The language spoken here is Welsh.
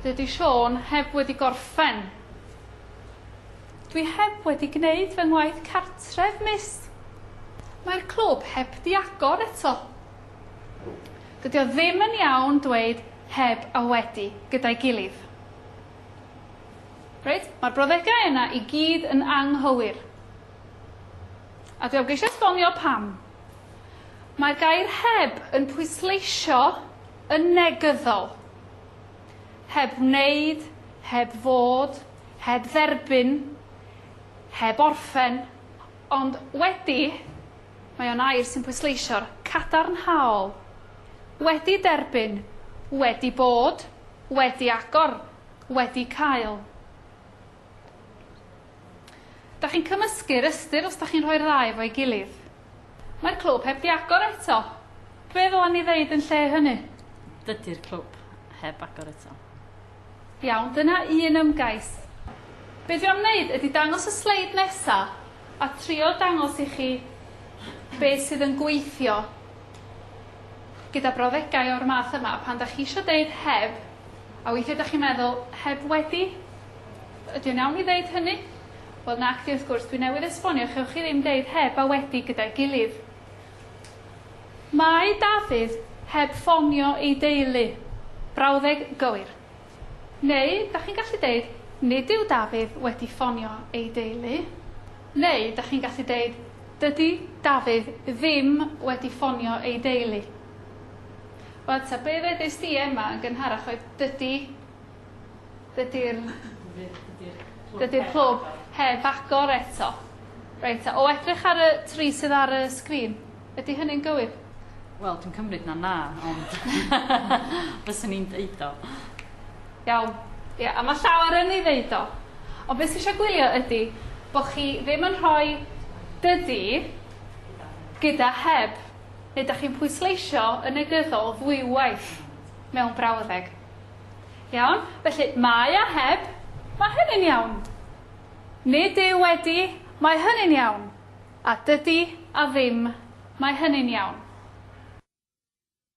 Dydy Siôn heb wedi gorffen. Dwi heb wedi gwneud fy ngwaith cartref, mis. Mae'r clwb heb di agor eto. Dydy o ddim yn iawn dweud heb a wedi gyda'i gilydd. Reit, mae'r brawddegau yna i gyd yn anghywir. A dwi am geisio esbonio pam. Mae'r gair heb yn pwysleisio yn negyddol. Heb wneud, heb fod, heb dderbyn, heb orffen, ond wedi, mae o'n air sy'n pwysleisio'r cadarnhaol. Wedi derbyn, wedi bod, wedi agor, wedi cael. Da chi'n cymysgu'r ystyr os da chi'n rhoi'r ddau efo'i gilydd. Mae'r clwb heb di agor eto. Be ddylen ni ddeud yn lle hynny? Dydy'r clwb heb agor eto. Iawn, dyna un ymgais. Be dwi am wneud ydy dangos y sleid nesa a trio dangos i chi be sydd yn gweithio gyda brawddegau o'r math yma pan da chi eisiau deud heb A weithiau dach chi'n meddwl, heb wedi? Ydy o'n iawn i ddeud hynny? Wel nacdi wrth gwrs, dwi newydd esbonio, chewch chi ddim deud heb a wedi gyda'i gilydd. Mae Dafydd heb ffonio ei deulu. Brawddeg gywir. Neu, dach chi'n gallu deud, nid yw Dafydd wedi ffonio ei deulu. Neu, dach chi'n gallu deud, dydy Dafydd ddim wedi ffonio ei deulu. Wel ta be' ddedist di Emma yn gynharach oedd dydi dydi'r dydi'r clwb heb agor eto. Reit ta o edrych ar y tri sydd ar y sgrin ydy hynny'n gywir? Wel dwi'n cymryd na na ond fyswn i'n deud o. Iawn ia a ma' llawer yn ei ddeud o. Ond be' sy isio gwylio ydi bo' chi ddim yn rhoi dydi gyda heb. neu da chi'n pwysleisio yn negyddol ddwywaith mewn brawddeg. Iawn, felly mae a heb, mae hynny'n iawn. Nid yw wedi, mae hynny'n iawn. A dydy a ddim, mae hynny'n iawn.